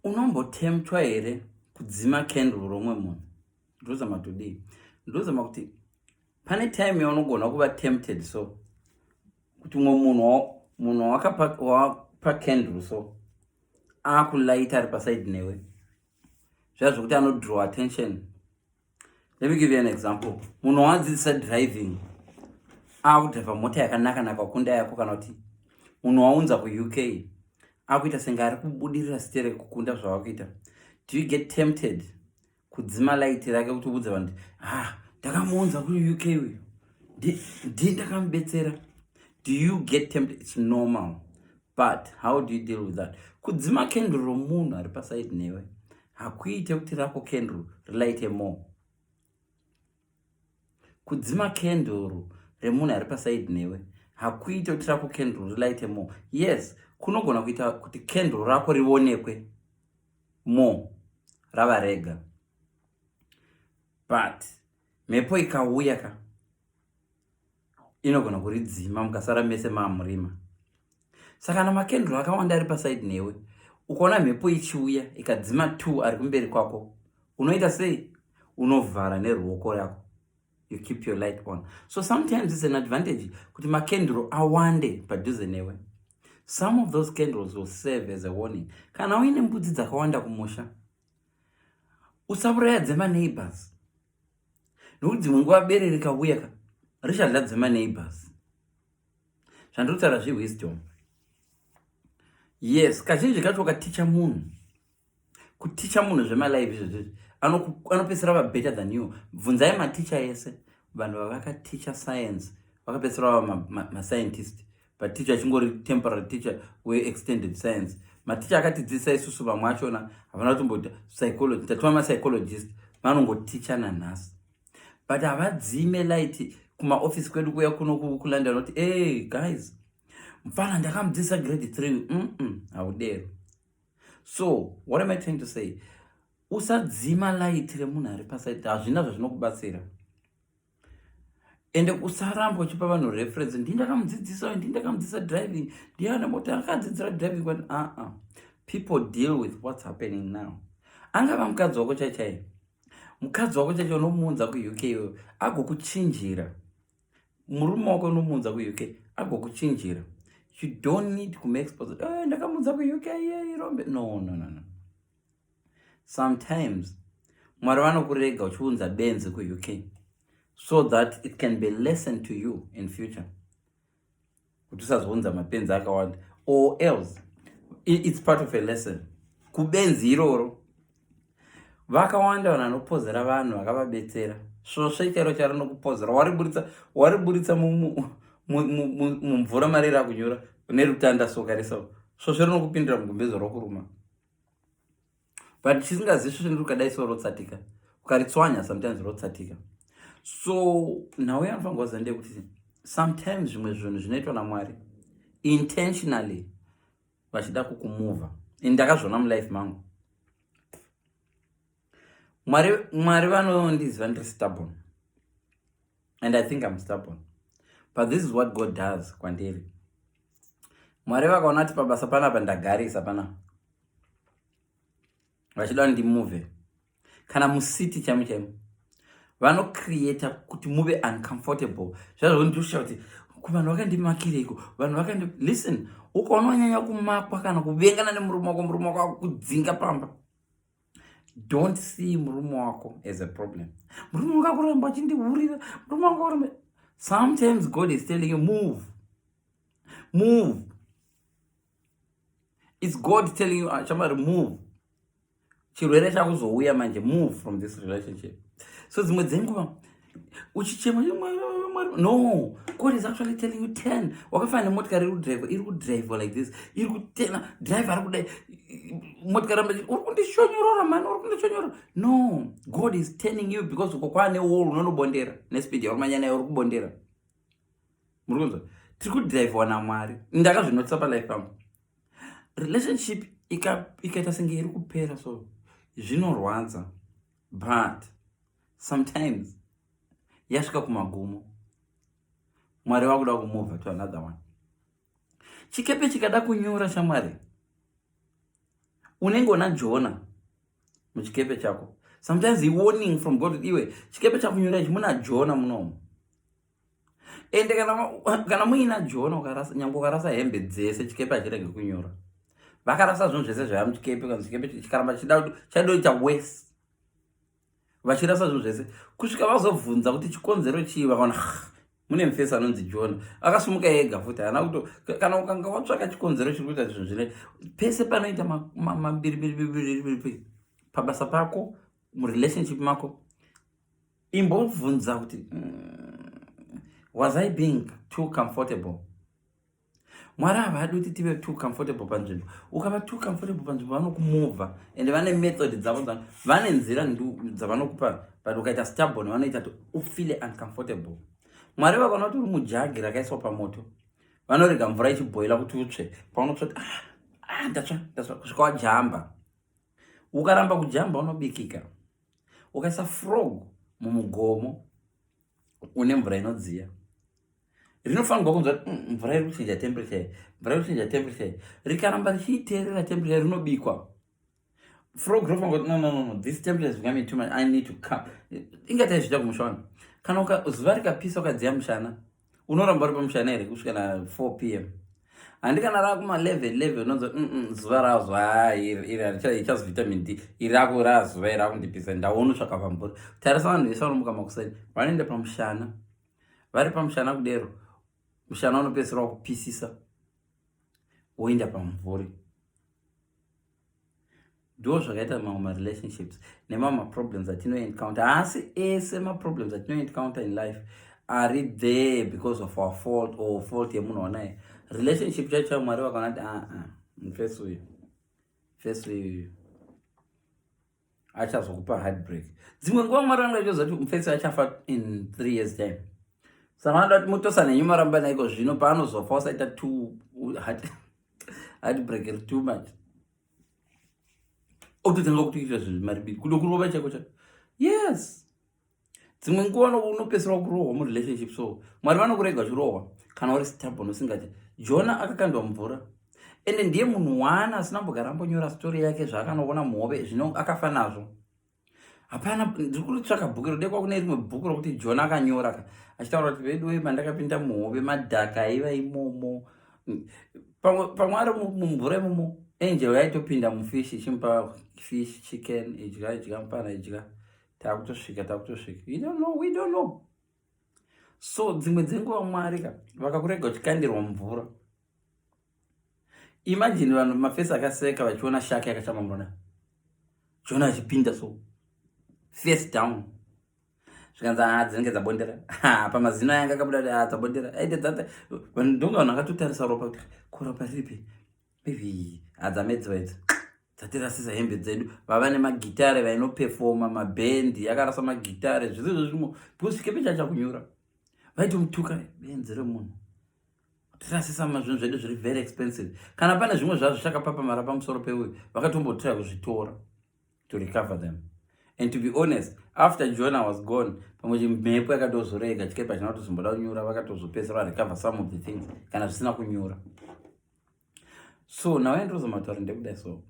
unombotemtwa here kudzima candle romwe munhu ndozama todii ndozama kuti pane time yaunogona kuva tempted so kuti umwe munhu munhu wakapa candle so akulaita ari paside newe zvazvokuti anodrow attention Let me give you an example. Munhu wadzidzisa driving akudriver mota yakanaka naka kunda yako kana kuti munhu waunza kuUK akuita senge ari kubudirira site rekukunda zvavakuita do you get tempted kudzima light rake kuti ubudze vanhu ha ah, ndakamuunza kuuk uyu ndi ndakamubetsera do you get tempted its normal but how do you deal with that kudzima kendru romunhu ari pasaidi newe hakuite kuti rako kendru relighte more kudzima kenduru remunhu ari pasaidi newe hakuite kuti rako kenduru relighte more yes kunogona kuita kuti kenduru rako rionekwe more rava rega but mhepo ikauya ka inogona kuridzima mukasara mese maamurima saka kana makendro akawanda ari pasaidi newe ukaona mhepo ichiuya ikadzima two ari kumberi kwako unoita sei unovhara neruoko yako you keep your light on so sometimes it's an advantage kuti makendro awande padhuze newe some of those candles will serve as a warning kana uine mbudzi dzakawanda kumusha usavuraya dzemaneighbors nokuti dzimwe nguva bere rikauya ka richazadze maneighbors zvandinotaura zvewisdom yes kazhinji kacho ukaticha munhu kuticha munhu zvemalive izvezvezvi anopedzisira va better than you bvunzai maticha ese vanhu vavakaticha science vakapedzisira vava mascientist ma, ma pateacher chingori temporary teacher weextended science maticha akatidzidzisa isusu vamwe achona havana kutomboita psychology tatova mapsychologist vanongoticha nanhasi but havadzime light kumaofisi kwedu kuya kuno kulondon kuti ey guys mfana ndakamudzidzisa grade three mm haudero so what am i trying to say usadzima light remunhu ari pasaiti hazvina zvazvinokubatsira ende usaramba uchipa vanhu reference ndii ndakamudzidzisa uyu ndii ndakamudzidzisa driving ndiye ana mota akadzidzira driving kwati aa uh -uh. people deal with what's happening now angava mukadzi wako chaichai mukadzi wako chaichai unomuunza kuuk iyoyo agokuchinjira murume wako unomuunza kuuk agokuchinjira you don't need kumake sponsor oh, ndakamuunza kuuk iye irombe no no no no sometimes mwari vanokurega uchiunza benzi kuuk so that it can be lesson to you in future kuti usazounza mapenzi akawanda or else it's part of a lesson kubenzi iroro vakawanda vanhu vanopozera vanhu vakavabetsera svosve chero charinokupozera wariburitsa wariburitsa mumvura mari rakunyura nerutanda soka reso svosve rinokupindira mugumbezo rokuruma but tisingazivi svosve ndiri ukadai so rotsatika ukaritswanya sometimes rotsatika so nhau yanofanira kuvaza ndeyekuti sometimes zvimwe zvinhu zvinoitwa namwari intentionally vachida kukumuvha ini ndakazviona mulife mangu mwari mwari vanondiziva ndiri stubborn and i think im stubborn but this is what god does kwandiri mwari vakaona kuti pabasa panapa ndagarisa panapa vachida ndimove kana musiti chaimo chaimo vanocreata kuti muve uncomfortable zvazvondiusha kuti kuvanhu vakandimakireiko vanhu vakandi listen ukaona wanyanya kumakwa kana kuvengana nemurume wako murume wako akudzinga pamba don't see murume wako as a problem murume wanga kuramba achindihurira murume wanga kuramba sometimes god is telling you move move its god telling you ah, chamari move chirwere chakuzouya manje move from this relationship so dzimwe dzenguva uchichema no god is actually telling you ten wakafana nemotikari iri kudriva iri kudriva like this iri kutena drive ari kudai motikari amba uri kundishonyorora mani uri kundishonyorora no god is turning you because uko kwaane wall unonobondera nespeed yauri manya nayo uri kubondera muri kunzwa tiri kudriviwa namwari ndakazvinotisa palife pangu relationship ikaita senge iri kupera so zvinorwadza but sometimes yasvika kumagumo mwari vakuda kumova to another one chikepe chikada kunyura shamwari unenge una jona muchikepe chako sometimes iwarning from god iwe chikepe chakunyura ichi muna jona munomu ende kana, kana muina jona ukarasa nyange ukarasa hembe dzese chikepe hachirege kunyora vakarasa zvinhu zvese zvaya muchikepe kana chikepe chikaramba chida chaidoita wese vachirasa zvinhu zvese kusvika vazobvunza kuti chikonzero chii vakaona mune mufesi anonzi jona akasumuka ega futi haana kuto kana ukanga watsvaka chikonzero chiri kuita zvinhu zvine pese panoita mabiribiribiribiri pabasa pako murelationship mako imbobvunza kuti mm, was i being too comfortable mwari havadi kuti tive too comfortable panzvimbo ukava too comfortable panzvimbo vanokumova and vane method dzavo vane nzira dzavanokupa but ukaita stubborn vanoita kuti ufile uncomfortable mwari vakaona kuti uri mujagi rakaiswa pamoto vanorega mvura ichibhoila kuti utsve paunotsva kuti ah, ah, ndatsva ndatsva kusvika wajamba ukaramba kujamba unobikika ukaisa frog mumugomo une mvura inodziya rinofanirwa kunzwa kuti mm, mvura iri kuchinja temperature mvura iri kuchinja temperature rikaramba richiiteerera temperature rinobikwa frog rinofanirwa kuti nonono this temperature is becoming too much i need to come ingatai zviita kumusha wani kana zuva rikapisa ukadziya mushana unoramba uri pamushana here kusvika na 4 p m handi kana rava kuma 11 11 unonzi mm, mm, zuva razuva ah, iri harichazi vitamin d iri rako rava zuva iri rakundipisa ndaona usvaka pamburi tarisa vanhu vese vanomuka makuseni vanoenda pamushana vari pamushana kudero mushana unopedzisira wakupisisa woenda pamvuri ndo zvakaita mamwe marelationships nemamwe maproblems atinoencounter haasi ese maproblems atinoencounter in life ari there because of our fault or fault yemunhu wanaye relationship chacho mwari vakaona kuti aa ah, ah, mfesi uyu mfesi uyu achazokupa heartbreak dzimwe nguva mwari vanoda chozoti mufesi achafa in three years time saka vanoda kuti mutosa nenyu maramba naiko zvino paanozofa usaita two heartbreak iri too much okutotanga kutoita zvinhu maribiri kudo kurova chaiko chaiko yes dzimwe nguva unopedzisira kurohwa murelationship so mwari vanokurega uchirohwa kana uri stabon usingati jona akakandwa mvura ende ndiye munhu waana asina mbogara ambonyora story yake zvaakanoona muhove zvino akafa nazvo hapana ndiri kuritsvaka bhuku rodekwa kune rimwe bhuku rokuti jona akanyora ka achitaura kuti vedu wema ndakapinda muhove madhaka aiva imomo pamwe ari mumvura imomo angel yaitopinda mufish ichimupa fish chicken idya idya mupana idya takutosvika takutosvika you don't know we don't know so dzimwe dzenguva mwari ka vakakurega uchikandirwa mvura imagine vanhu mafesi akaseka vachiona shaka yakachama mvura chiona achipinda so face down zvikanzi haa ah, dzinenge dzabondera pamazino ayanga akabuda kuti haa ah, dzabondera aite dzata vanhu ndonga vanhu akatotarisa ropa kuti koropa ripi Ivii, adzamedziwa idzo dzatirasisa hembe dzedu vava nemagitare vainopefoma mabhendi yakarasa magitare zvese zvozvimo because chikepe chacha kunyura vaitomutuka benzi remunhu tirasisa mazvinhu zvedu zviri very expensive kana pane zvimwe zvazvo chakapapamara pamusoro peuyu vakatombotira kuzvitora to recover them and to be honest after jona was gone pamwe chimhepo yakatozorega chikepe china kutozomboda kunyura vakatozopesera varecover some of the things kana zvisina kunyura so now ndozama kutaura ndekuda so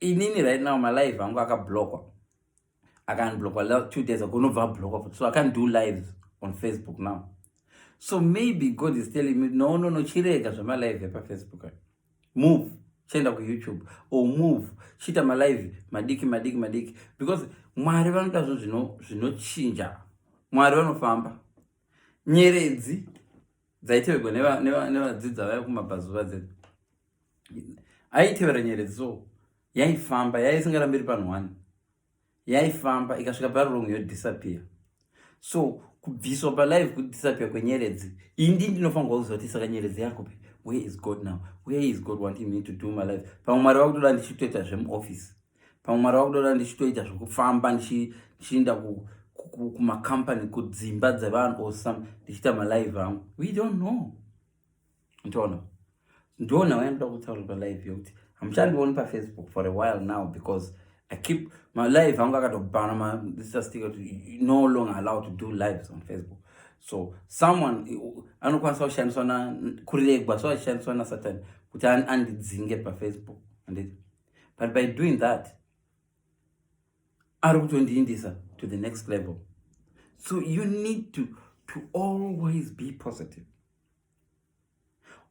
inini right now malive angu akablokwa akanblokwa last two days ago unobva ablokwa futi so akandiu lives on facebook now so maybe god is telling me no no no chirega zvamalive epafacebook ayo move chienda kuyoutube or move chiita malive madiki madiki madiki because mwari vanoda zvo zvinochinja mwari vanofamba nyeredzi dzaiteverwa nevadzidza vaya kumabvazuva dzedu aitevera nyeredzi so yaifamba yaisingarambi iri panhu one yaifamba ikasvika parurong yodisappear so kubviswa palive kudisappear kwenyeredzi indi ndinofanirwa kuziva kuti saka nyeredzi yakupi where is god now where is god wanting me to do my life pamwe mwari vakutoda ndichitoita zvemuoffice pamwe mwari vakutoda ndichitoita zvekufamba ndichienda kumacompany kudzimba dzevanhu or some ndichiita malive angu we don't know ntoona ndona wayandoda kutaura palive yokuti hamuchandioni pafacebook for a while now because i keep my live angu akatobhana maisastika kuti no longer allowed to do lives on facebook so someone anokwanisa kushandiswa na kuregwa so achishandiswa nasatani kuti andidzinge pafacebook anditi but by doing that ari kutondiindisa to the next level so you need to, to always be positive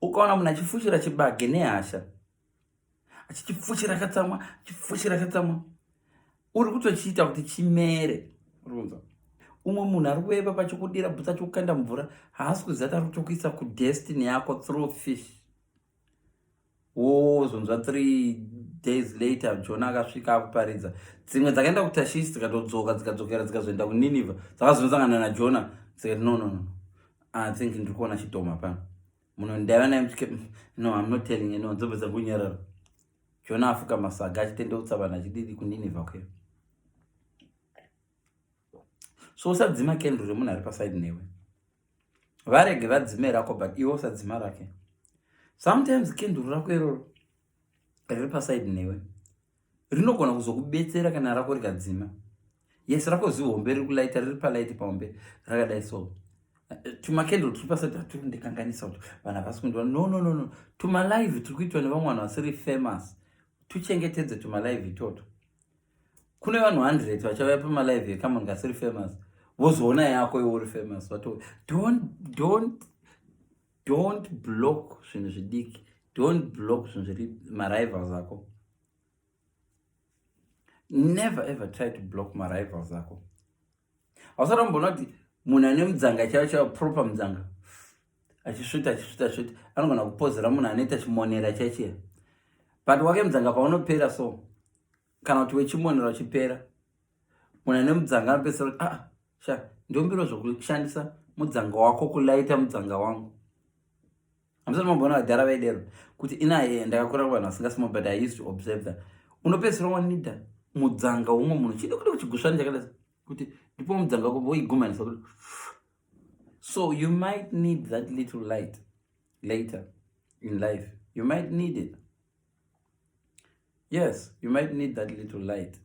ukaona munhu achifushira chibage nehasha achichifushira katsamwa achifushira katsamwa uri kutochiita kuti chimere runza umwe munhu ari kueva pachikudira bhutsa chikukanda mvura haasi kuziva tari kutokuisa kudestiny yako through fish wozonzwa oh, three days later jona akasvika akuparidza dzimwe dzakaenda kutashishi dzikatodzoka dzikadzokera dzikazoenda kuniniva dzakazonosangana najona dzikati no no no i think ndiri kuona chidhoma pano muno ndaiva naye mtike no im not telling anyone dzobvesa kunyarara jona afuka masaga achitendeutsa vanhu achididi kuniniva kuyo so usadzima kendro remunhu ari pasaidi newe varege vadzime rako but iwe usadzima rake sometimes kenduru rako iroro riri paside newe rinogona kuzokubetsera kana rako rikadzima yes rako zihombe riri kulaita riri palaiti pahombe rakadai so tumakenduru tiri paside hatiri kundikanganisa kuti vanhu havasi kundiva no no no no tumalive tiri kuitwa nevamwe vanhu vasiri famous tuchengetedze tumalive itoto kune vanhu 100 vachauya pamalive yekama ngasiri famous vozoona yako iwe uri famous vato don't don't don't block zvinhu zvidiki don't block zvinhu zviri marivals ako never ever try to block marivals ako hausati amboona kuti munhu ane mudzanga chaiwo chaiwo proper mudzanga achisvita achisvita svita anogona kupozera munhu anoita chimonera chaichiya but wake mudzanga paunopera so kana kuti wechimonera uchipera munhu ane mudzanga anopesera kuti aa sha ndombiro zvokushandisa mudzanga wako kulaita mudzanga wangu hamusati mamboona vadhara vaidero kuti inaye ndakakura kuvanhu vasingasimo but i used to observe that unopesera wanida mudzanga umwe munhu chidi kuti kuchigusvani chakadai kuti ndipo mudzanga wako voigumanisa kuti so you might need that little light later in life you might need it yes you might need that little light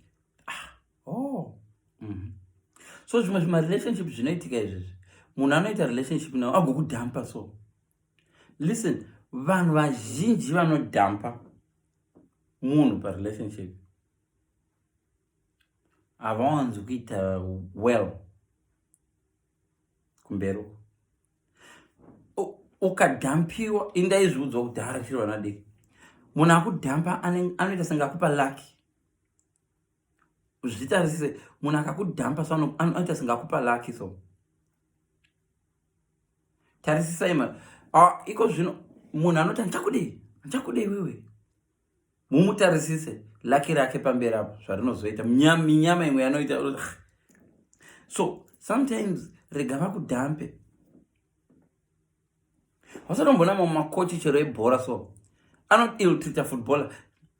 ah, oh. mm -hmm. so zvimwe zvimarelationship zvinoitika izvezvi munhu anoita relationship nawo agokudhampa so listen vanhu vazhinji vanodhampa munhu parelationship havawanzi kuita well kumberi uko ukadhampiwa indaizviudzwa kuti harashirwa nadiki munhu akudhampa anoita senge akupa laki zvitarisise munhu akakudhampa so anoita senge akupa laki so tarisisai ma iko zvino munhu anoti andichakudei andichakudei wewe mumutarisise laki rake pamberi apo zvarinozoita minyama imwe yanoita so sometimes rega vakudhampe wasatombona mamwe makochi chero ebhora so anoiltrita footballer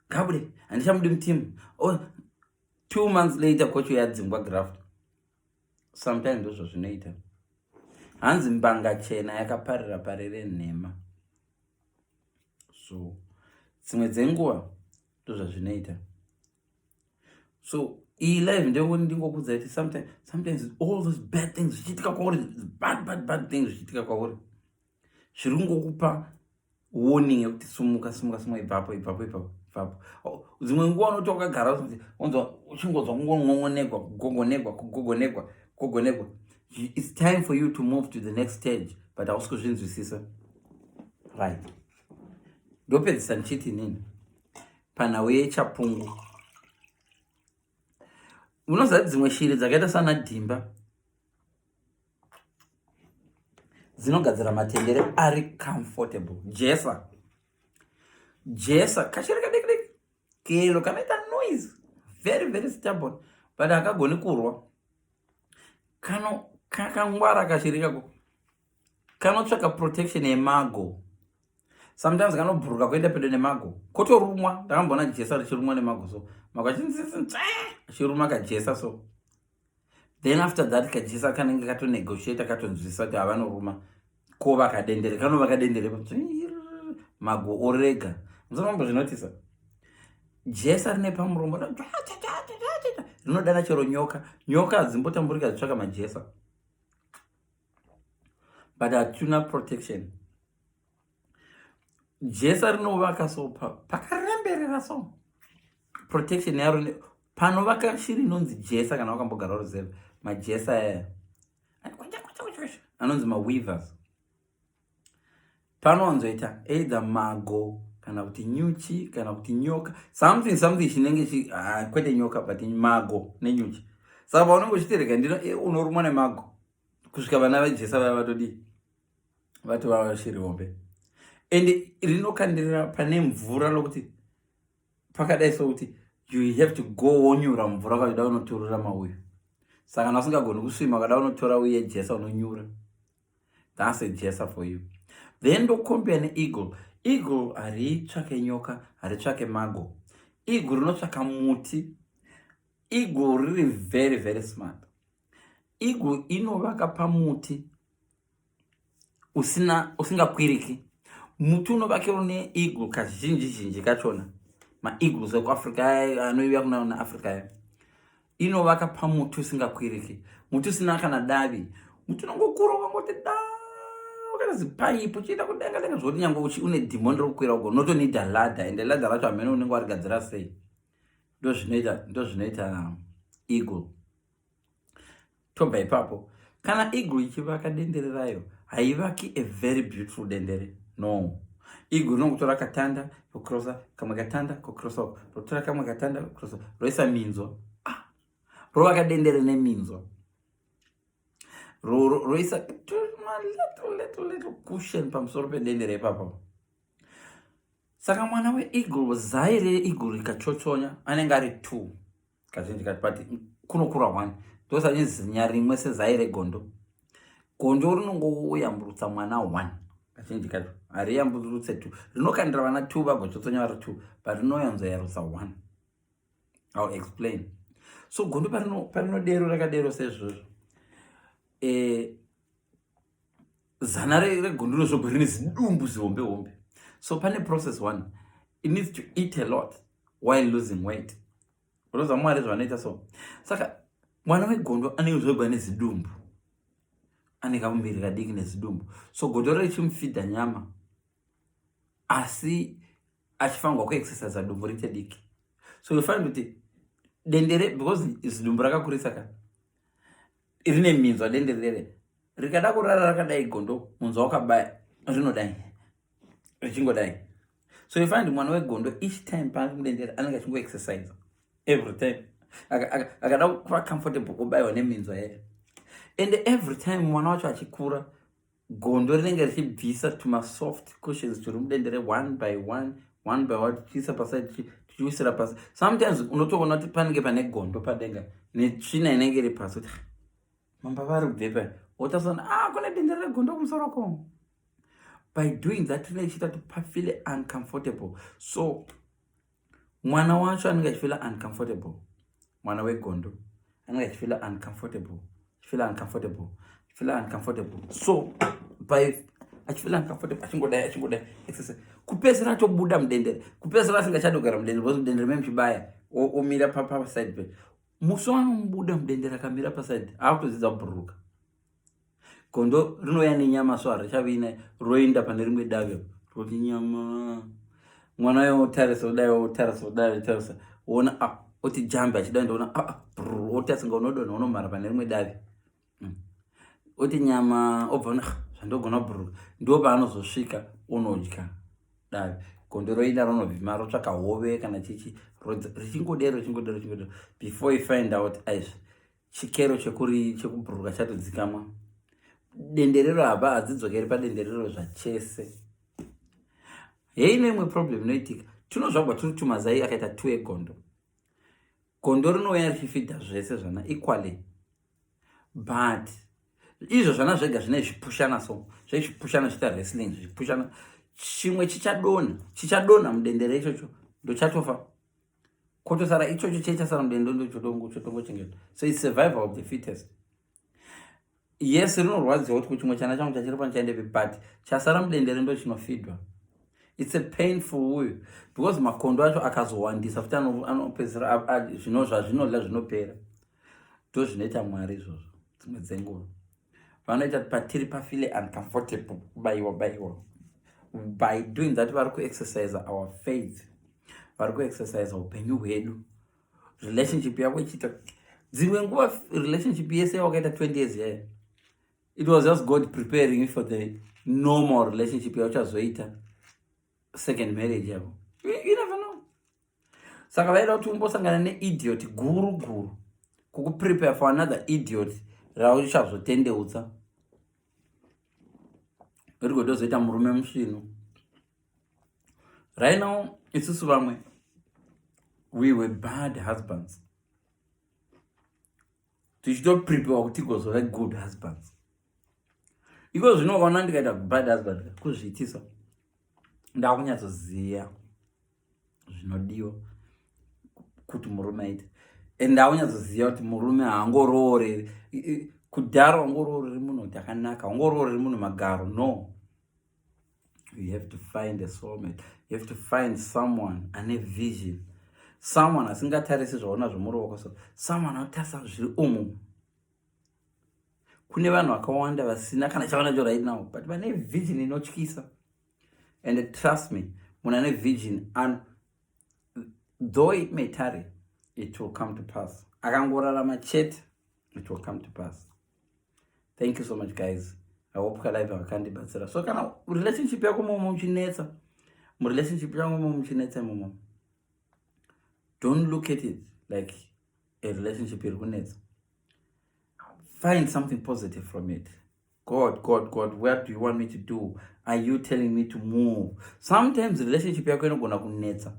gabude handichamudi mutimu oh, two months later kochi yadzingwa graft sometimes ndozvo zvinoita hanzi mbanga chena yakaparira parire nhema so dzimwe dzenguva ndozvazvinoita so iyi live ndeyekuti ndingokudza kuti sometimes, sometimes all those bad things zvichiitika kwauri bad bad bad things zvichiitika kwauri zviri kungokupa warning yekuti sumuka sumuka sumuka ibvapo ibvapo ibvapo ibvapo oh, dzimwe nguva unoti wakagara unzwa uchingonzwa kungongongonegwa kugogonegwa kugogonegwa kugogonegwa it's time for you to move to the next stage but hausi kuzvinzwisisa right ndopedzisa ndichiti nini panhau yechapungu unoziva dzimwe shiri dzakaita sana dhimba dzinogadzira matendere ari comfortable jesa jesa kashiri kadikidiki kelo kanoita noise very very stubborn but akagoni kurwa kano kakangwara kashiri kako kanotsvaka protection yemago sometimes kanobhuruka kuenda pedo nemago kotorumwa ndakamboona jesa richirumwa nemago so mago achiruma kajesa so then after that kajesa kanenge katonegotiata katonzwisisa kuti havanoruma ko vakadendere kanova kadendere mago orega musanombo zvinotisa jesa rine pamuromo rinodana chero nyoka nyoka hadzimbotamburika dzitsvaka majesa but hatuna protection jesa rinovaka so pakaremberera so protection yaro panovaka shiri inonzi jesa kana wakambogara uruziva majesa aya anonzi maweavers panowanzoita either mago kana kuti nyuchi kana kuti nyoka something something chinenge chi ah, kwete nyoka but mago nenyuchi saka paunenge uchitereka ndino e, unorumwa nemago kusvika vana vejesa vaya vatodii vatova vashiri hombe and rinokandirira pane mvura lokuti pakadai sokuti you have to go wonyura mvura kachida unoturura mauyu saka kana usingagoni kusvima kada unotora uye jesa unonyura thats a jesa for you then ndokombea neeagle eagle haritsvake nyoka haritsvake mago eagle rinotsvaka muti eagle riri very very smart eagle inovaka pamuti usina usingakwiriki muti unovakira une eagle kazhinji zhinji kachona maeagles ekuafrica anoiuya kunaona africa ya inovaka pamuti usingakwiriki muti usina kana davi muti unongokura ukangoti da wakana zipaipi uchiita kudenga denga zvokuti nyange uchi une dhimoni rokukwira ugo unotonida ladha ende ladha racho hamene unenge warigadzira sei ndozvinoita ndozvinoita eagle tobva ipapo kana iguru ichivaka dendere rayo haivaki a very beautiful dendere no iguru rinongotora katanda kukrosa kamwe katanda kukrosa uko rotora kamwe katanda kukrosa roisa minzwa ah. rovaka dendere neminzwa roisa cushion pamusoro pedendere ipapa saka mwana weeagle zai reeagle rikachochonya anenge ari two kazhinji kati pati kunokura one ndosanye zinya rimwe sezai regondo gondo rinongoyamburutsa mwana one kazhinji kacho hariyamburutse two rinokandira vana two vagochotsonya vari two but rinoyanzoyarutsa one ill explain so gondo parinodero rakadero sezvozvo e, zana regondoro zvoga rine zidumbu zihombe hombe so pane process one it needs to eat a lot while losing weight unoziva mwari zvavanoita so saka mwana wegondo anenge zvoga ane zidumbu ane kamuviri kadiki nezidumbu so godoro richimufidha nyama asi achifanirwa kuexercisa dumbu riite diki so yofanira kuti dendere because zidumbu rakakurisa ka rine minzwa dende rere rikada kurara rakadai gondo munzwa wakabaya rinodai richingodai so you find mwana wegondo each time paange mudendere anenge achingoexercise every time akada kuva comfortable kubaiwa neminzwa yacho and every time mwana wacho achikura gondo rinenge richibvisa tumasoft cushions turi mudendere one by one one by one tichiisa pasai tichiwisira pasi sometimes unotoona kuti panenge pane gondo padenga netsvina inenge iri pasi kuti mamba vari kubve pai wotasana a ah, kune dendere regondo kumusoro ko by doing that rinenge chiita kuti pafile uncomfortable so mwana wacho anenge achifila uncomfortable mwana wegondo anenge achifila uncomfortable achifila uncomfortable achifila uncomfortable so by achifila uncomfortable achingodai achingodai exercise kupedzisira atobuda mudendere kupedzisira asingachadi kugara mudendere because mudendere meme chibaya omira paside pe musi wanomubuda mudendere akamira paside akutodzidza kubhururuka gondo rinouya nenyama so harichavi ina roenda pane rimwe davi roti nyama mwana uyo otarisa odai otarisa odai otarisa woona a ah, oti jambe achidai ndoona a ah, ah, oti asinga unodonha unomhara pane rimwe davi hmm. oti nyama obva ona zvandogona bhuruka ndo paanozosvika unodya davi gondo roenda ronovhima rotsvaka hove kana chichi richingodero richingodero richingodero before you find out aizvi chikero chekuri chekubhururuka chatodzikamwa denderero haba hadzidzokeri padenderero zvachese hei neimwe problem inoitika tinozvagwa tiri tumazai akaita two egondo gondo rinouya richifidha zvese zvana equally but izvo zvana zvega zvine zvipushana so zvezvipushana zviita wrestling zvipushana chimwe chichadona chichadona mudendere ichocho ndochatofa kotosara ichocho chee chasara mudendo ndochodongo chotongochengeta so its survival of the fittest yes rinorwadziwa kuti kuchimwe chana changu chachiri pano chaendepi but chasara mudendere ndo chinofidwa its a painful uyu because makondo acho akazowandisa futi anopedzisira zvino zvazvinodla zvinopera ndo zvinoita mwari izvozvo dzimwe dzenguva vanoita patiri pafile uncomfortable kubaiwa baiwa by doing that vari kuexercise our faith vari kuexercise upenyu hwedu relationship yavo ichiita dzimwe nguva relationship yese yawakaita 20 years yayo it was just god preparing you for the normal relationship yauchazoita second marriage yavo saka vaida kuti umbosangana neidiot guru guru kukuprepare for another idiot rauchazotendeutsa uri kutozoita murume musvinu right now isusu vamwe we were bad husbands tichitoprepewa kuti igozove good husbands iko zvinoona ndikaita bad husband kuzviitisa ndakunyatsoziva zvinodiwa kuti murume aite and aunyatsoziva kuti murume haangorooreri kudhara wangorooreri munhu kuti akanaka wangorooreri munhu magaro no you have to find a soulmate you have to find someone ane vision someone asingatarisi zvaona zvemuruoko so someone anotarisa zviri umu kune vanhu vakawanda vasina kana chavanacho right now but vane vision inotyisa and trust me munhu ane virgin and though it may tarry it will come to pass akangorarama chete it will come to pass thank you so much guys i hope kalive vakandibatsira so kana relationship yako momo muchinetsa murelationship yako momo muchinetsa momo don't look at it like a relationship iri kunetsa find something positive from it God, God, God, where do you want me to do? Are you telling me to move? Sometimes relationship yako inogona kunetsa.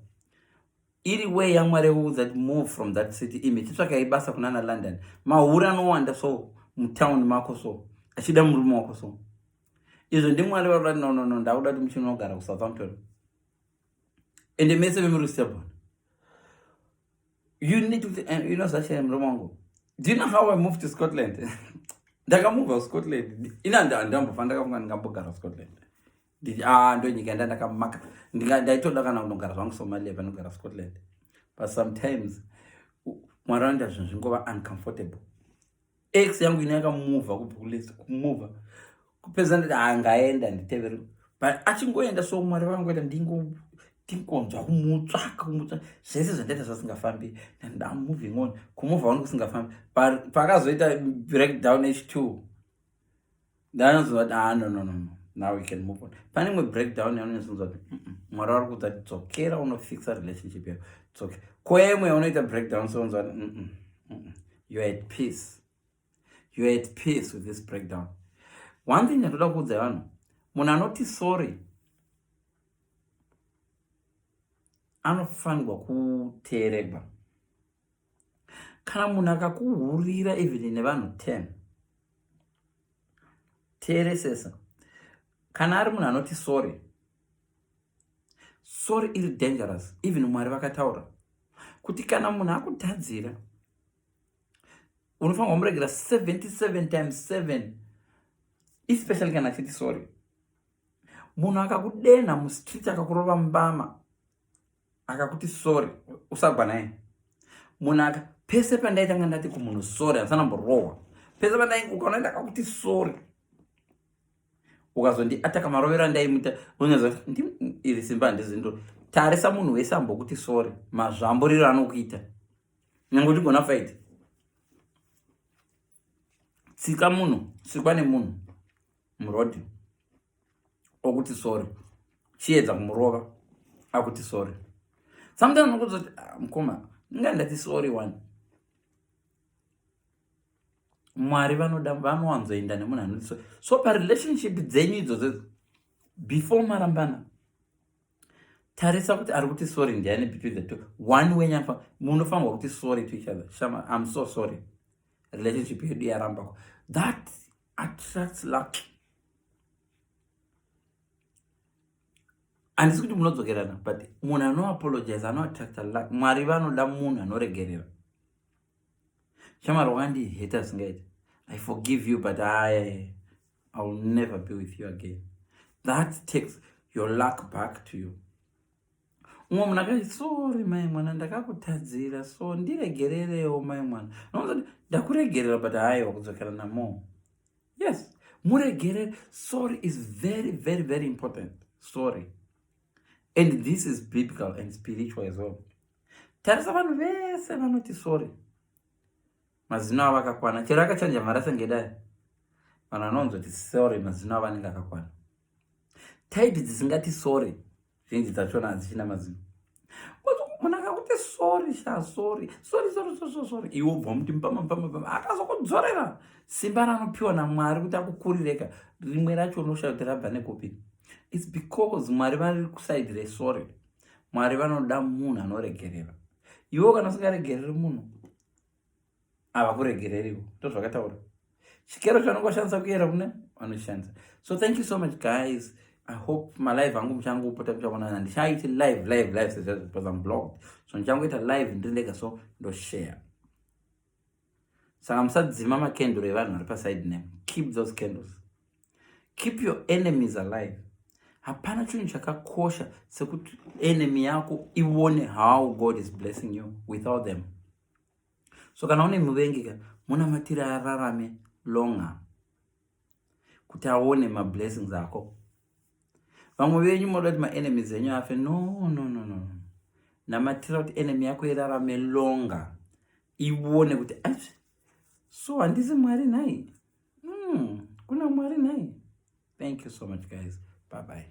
Iri way yaMwari kuudza kuti move from that city imi chitsvaka ibasa kunana London. Mahura anowanda so mutown mako so achida murume wako so. Izvo ndimwari vakuda no no no ndakuda kuti muchino kugara kuSouthampton. ende mese vemuri stubborn you need to eh, you know zvashaye murume wangu do you know how i moved to scotland ndakamuvha kuscotland ina ndambofa ndakafunga ndingambogara scotland ah, ndo nyika yanda ndakamaka ndaitoda kana kunogara zvangu somalia panogara scotland but sometimes mwari anoita zvinhu zvingova uncomfortable ex yangu ine yakamuvha kubva kulesi kumuvha kupedza ndati angaenda nditevere but achingoenda so mwari vangoita ndingonzwa kumutsvaka kumutsvaka zvese zvandaita zvasingafambi ndamoving on kumuvha wani kusingafambi pakazoita breakdown h two ndaanonzwa kuti ah no no no no now we can move on pane imwe breakdown yaunonzwa kuti mwari wari kuudza kuti dzokera unofixa relationship yako dzoke koya imwe yaunoita breakdown sounzwa kuti you are at peace you are at peace with this breakdown one thing yatoda kuudza vanhu munhu anoti sorry anofanirwa kuteeregwa kana munhu akakuhurira even nevanhu 10 teeresesa kana ari munhu anoti sorry sorry iri dangerous even mwari vakataura kuti kana munhu akutadzira unofanirwa kumuregera 77 times 7 especially kana achiti sorry munhu akakudenha mustreet akakurova mbama akakuti sorry usagwa naye munhu aka pese pandaitanga ndati kumunhu sorry handisana mborohwa pese pandai ukaona ndakakuti sorry ukazondi ataka marovero andaimuita unyaza ndi iri simba handizindo tarisa munhu wese ambokuti sorry mazvamburiro anokuita nyange uchigona faiti tsika munhu sikwa nemunhu murodhi okuti sorry chiedza kumurova akuti sorry sometimes unokuzoti ah, mukoma inga ndati sorry one mwari vanoda vanowanzoenda nemunhu anoti sorry so parelationship dzenyu idzodzo before marambana tarisa kuti ari kuti sorry ndiani between the two one wenyafa munofanirwa kuti sorry to each other shama im so sorry relationship yedu yarambako that attracts luck handisi kuti munodzokerana but munhu anoapologize anoattracta luck mwari vanoda munhu anoregerera shamwari wakandiheta zvingaita i forgive you but aye i will never be with you again that takes your luck back to you umwe munhu akati sori mai mwana ndakakutadzira so ndiregererewo mai mwana nokuti ndakuregerera but haiwa kudzokera namo yes muregerere sorry is very very very important sorry and this is biblical and spiritual as well tarisa vanhu vese vanoti sorry mazino avo akakwana chero akachanja mharasa ngedai vanhu vanonzoti sorry mazino avo anenge akakwana type dzisingati sorry zhinji dzachona hadzichina mazino munhu akakuti sorry sha sorry sorry sorry sorry sorry iwe ubva muti mpama mpama mpama akazokudzorera simba ranopiwa namwari kuti akukurireka rimwe racho unoshaa kuti rabva nekupi its because mwari vari kusaidi resorry mwari vanoda munhu anoregerera iwe kana usingaregereri munhu havakuregereriwo ndozvakataura chikero chavanenge vashandisa kuyera kune vanoshandisa so thank you so much guys i hope malive angu muchangopota muchaonana ndichaiti live live live sezvazvipasa mublog so ndichangoita live ndiri ndega so ndoshare saka musadzima makenduro evanhu vari paside name keep those candles keep your enemies alive hapana chinhu chakakosha sekuti enemy yako ione how god is blessing you without them so kana une muvengi ka munamatire ararame longer kuti aone mablessings ako vamwe venyu moda kuti maenemies enyu afe no no no no namatira kuti enemy yako irarame longer ione kuti achi so handisi mwari nhai mm, kuna mwari nhai thank you so much guys bye bye